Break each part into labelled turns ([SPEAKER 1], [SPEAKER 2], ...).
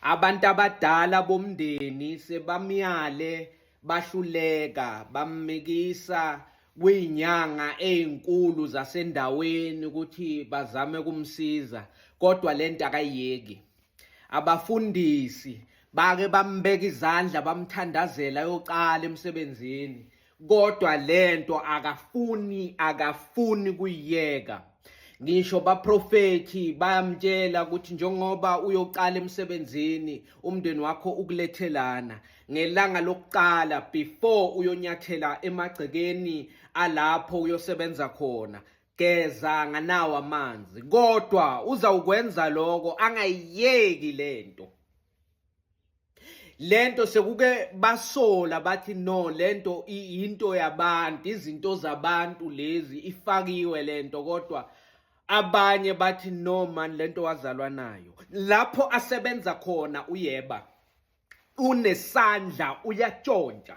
[SPEAKER 1] Abantu abadala bomndeni sebamyale bahluleka bammikisa kwinyanga ezinkulu zasendaweni ukuthi bazame kumsiza kodwa lento akayeki abafundisi bake bambeka izandla bamthandazela yoqala emsebenzini kodwa lento akafuni akafuni kuyiyeka ngisho baprofethi bayamtshela ukuthi njengoba uyoqala emsebenzini umndeni wakho ukulethelana ngelanga lokuqala before uyonyathela emagcekeni alapho uyosebenza khona geza nganawo amanzi kodwa uzawukwenza lokho angayiyeki lento lento sekuke basola bathi no lento into yabantu izinto zabantu lezi ifakiwe lento kodwa abanye bathi no man lento wazalwa nayo lapho asebenza khona uyeba unesandla uyatshontsha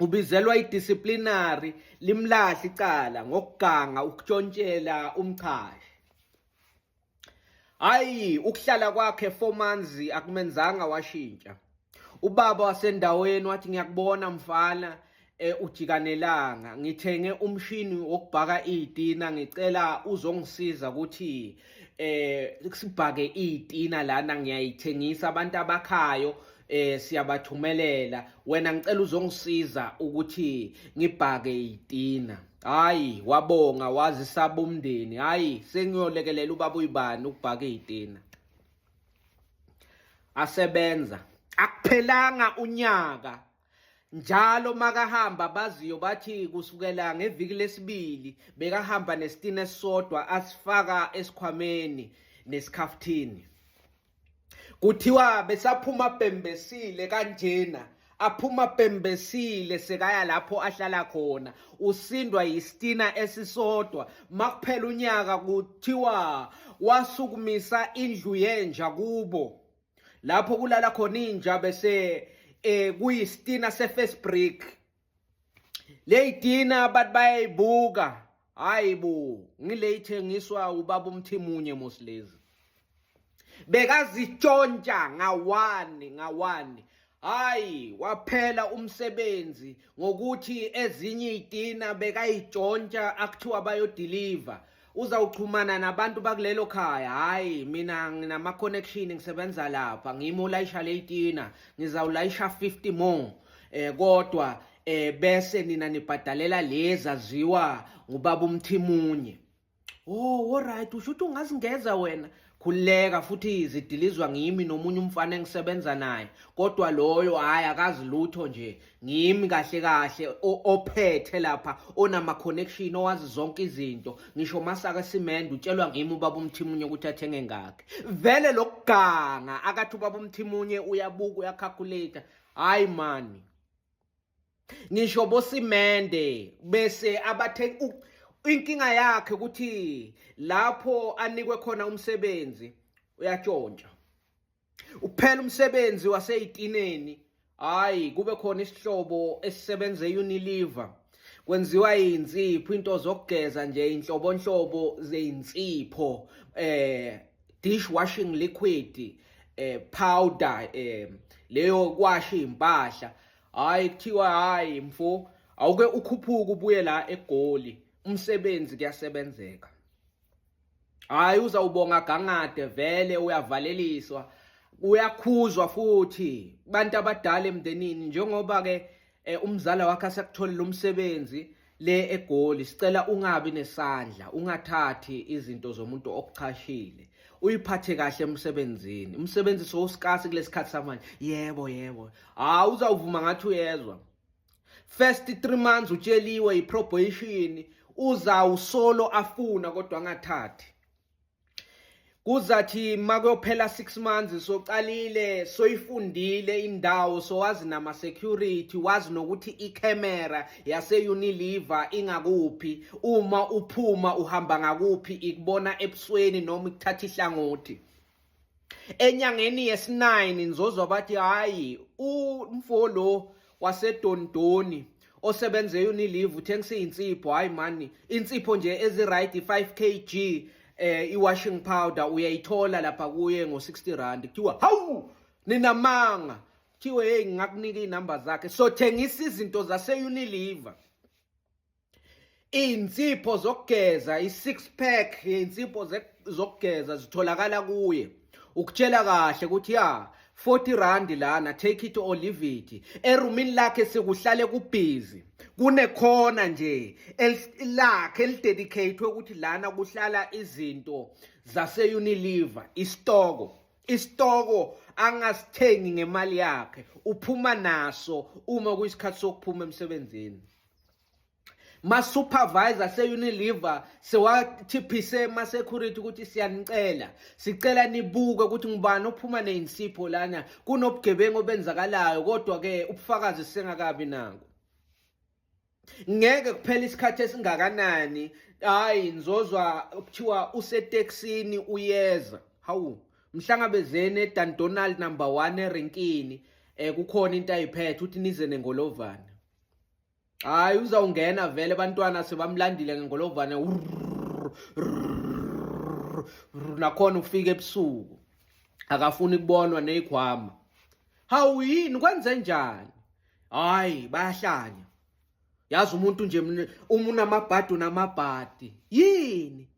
[SPEAKER 1] ubizelwa idisciplinary limlahle icala ngokuganga ukutshontshela umchashi hayi ukuhlala kwakhe 4 months akumenzanga washintsha ubaba wasendaweni wathi ngiyakubona mfana eh, ujikanelanga ngithenge umshini wokubhaka itina ngicela uzongisiza ukuthi eh sibhake itina lana ngiyayithengisa abantu abakhayo eh siyabathumelela wena ngicela uzongisiza ukuthi ngibhake itina hayi wabonga wazi sabumndeni hayi sengiyolekelela ubaba uyibani ukubhaka itina asebenza akuphelanga unyaka njalo makahamba baziyo bathi kusukela ngeviki lesibili bekahamba nesitina esisodwa asifaka esikhwameni nesikhaftini kuthiwa besaphuma bhembesile kanjena aphuma bhembesile sekaya lapho ahlala khona usindwa yistina esisodwa makuphela unyaka kuthiwa wasukumisa indlu yenja kubo lapho kulala khona inja bese eh kuyistina sefirst break Leyidina abantu bayayibuka hayi bo ngile ithengiswa ubaba umthimunye mosilezi bekazitshontsha ngawani ngawani hayi waphela umsebenzi ngokuthi ezinye iyitina bekayitshontsha akuthiwa bayodeliver uzawuxhumana nabantu bakulelo khaya hhayi mina nginama-connection ngisebenza lapha ngimi olayisha ley'tina ngizawulayisha 50 more eh kodwa eh bese nina nibhadalela lezi aziwa ngubaba umthimunye oh alright usho ukuthi ungazingeza wena khululeka futhi zidilizwa ngimi nomunye umfana engisebenza naye kodwa loyo hhayi akazi lutho nje ngimi kahle kahle ophethe lapha onama-connection owazi zonke izinto ngisho masaka simende utshelwa ngimi ubaba umthimunye ukuthi athenge ngakhe vele lokuganga akathi ubaba umthimunye uyabuka uyakhakhuletha hhayi mani ngisho bosimende bese abathe inkinga yakhe ukuthi lapho anikwe khona umsebenzi uyatshontsha uphela umsebenzi waseyitineni hayi kube khona isihlobo esisebenza eUnilever kwenziwa insipho into zokugeza nje inhlobonhlobo zeinsipho eh dish washing liquid eh powder eh leyo kwasha impahla hayi kuthiwa hayi mfo awuke ukhuphuka ubuye la egoli umsebenzi kuyasebenzeka hayi uzawubonga gangade vele uyavaleliswa uyakhuzwa futhi bantu abadala emndenini njengoba ke eh, umzala wakhe asakutholile umsebenzi le egoli sicela ungabi nesandla ungathathi izinto zomuntu okuchashile uyiphathe kahle emsebenzini umsebenzi sowusikasi kulesikhathi samanje yebo yebo hawu uzawuvuma ngathi uyezwa first 3 months utsheliwe iprobation uzawusolo afuna kodwa angathathi kuzathi makuyophela 6 months soqalile soyifundile indawo sowazi nama security wazi nokuthi icamera yase Unilever ingakuphi uma uphuma uhamba ngakuphi ikubona ebusweni noma ikuthatha ihlangothi Enyangeni yesi-9 nizozwa bathi hayi umfo lo wasedondoni osebenze unilive uthengisa izinsipho hayi mani insipho nje eziright 5 kg eh i-washing powder uyayithola lapha kuye ngo-60 rand kuthiwa hawu ninamanga kuthiwe hey ngingakunika iy'namba zakhe sothengisa izinto zase-unilever Izinsipho zokugeza i-six pack yezinsipho zokugeza zitholakala kuye ukutshela kahle ukuthi ya 40 rand lana take it or leave it erumini lakhe sekuhlale kubhizi kunekhona nje lakhe elidedicatwe ukuthi lana kuhlala izinto zase-unilever isitoko isitoko angasithengi ngemali yakhe uphuma naso uma kuyisikhathi sokuphuma emsebenzini ma-supervisor se-unilever sewathiphise ma-security ukuthi siyanicela sicela nibuke ukuthi ngubani ophuma neyinsipho lana kunobugebengu obenzakalayo kodwa-ke ubufakazi sisengakabi nako ngeke kuphela isikhathi esingakanani hayi ngizozwa kuthiwa useteksini uyeza hawu mhlangabezeni edan donald number one erenkini um kukhona into ayiphethe uthi nize nengolovana hayi uzawungena vele bantwana sebamlandile ngengolovane nakhona ufike ebusuku akafuni kubonwa neyikhwama hawu yini kwenze njani hayi bayahlanya yazi umuntu nje uma unamabhadi unamabhadi yini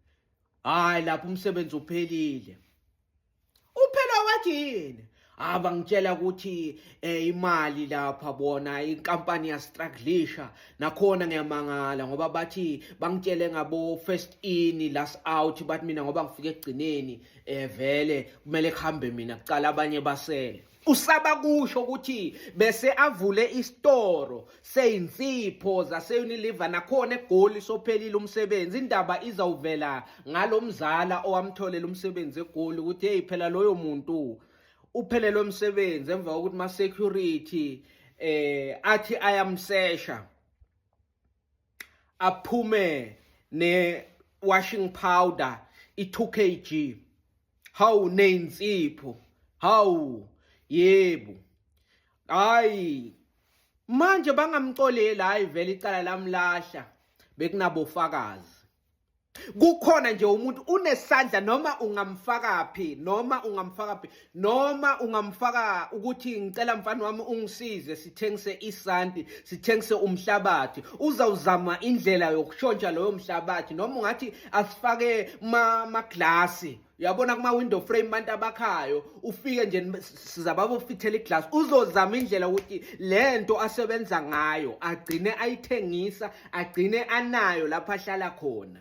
[SPEAKER 1] hayi lapho umsebenzi uphelile Uphela wathi yini? Aba ngitshela ukuthi eh, imali lapha bona inkampani ya strugglisha nakhona ngiyamangala ngoba bathi bangitshele ngabo first in last out bathi mina ngoba ngifike egcineni eh vele kumele kuhambe mina kucala abanye basele Usaba kusho ukuthi bese avule isitoro seyinsipho zaseUnilever nakhona egoli sophelile umsebenzi indaba izawuvela ngalomzala owamtholela umsebenzi egoli ukuthi hey phela loyo muntu uphelelwe umsebenzi emva kokuthi ma security eh athi ayamsesha aphume ne washing powder i 2 kg hawu neyinsipho hawu yebo hayi manje bangamxoleli hayi vele icala lamlahla bekunabofakazi kukhona nje umuntu unesandla noma ungamfaka phi noma ungamfaka phi noma ungamfaka ukuthi ngicela mfana wami ungisize sithengise isanti sithengise umhlabathi uzawuzama indlela yokushontsha loyo mhlabathi noma ungathi asifake ma maglasi uyabona kuma window frame abantu abakhayo ufike nje sizababofithela iglass uzozama indlela ukuthi lento asebenza ngayo agcine ayithengisa agcine anayo lapha ahlala khona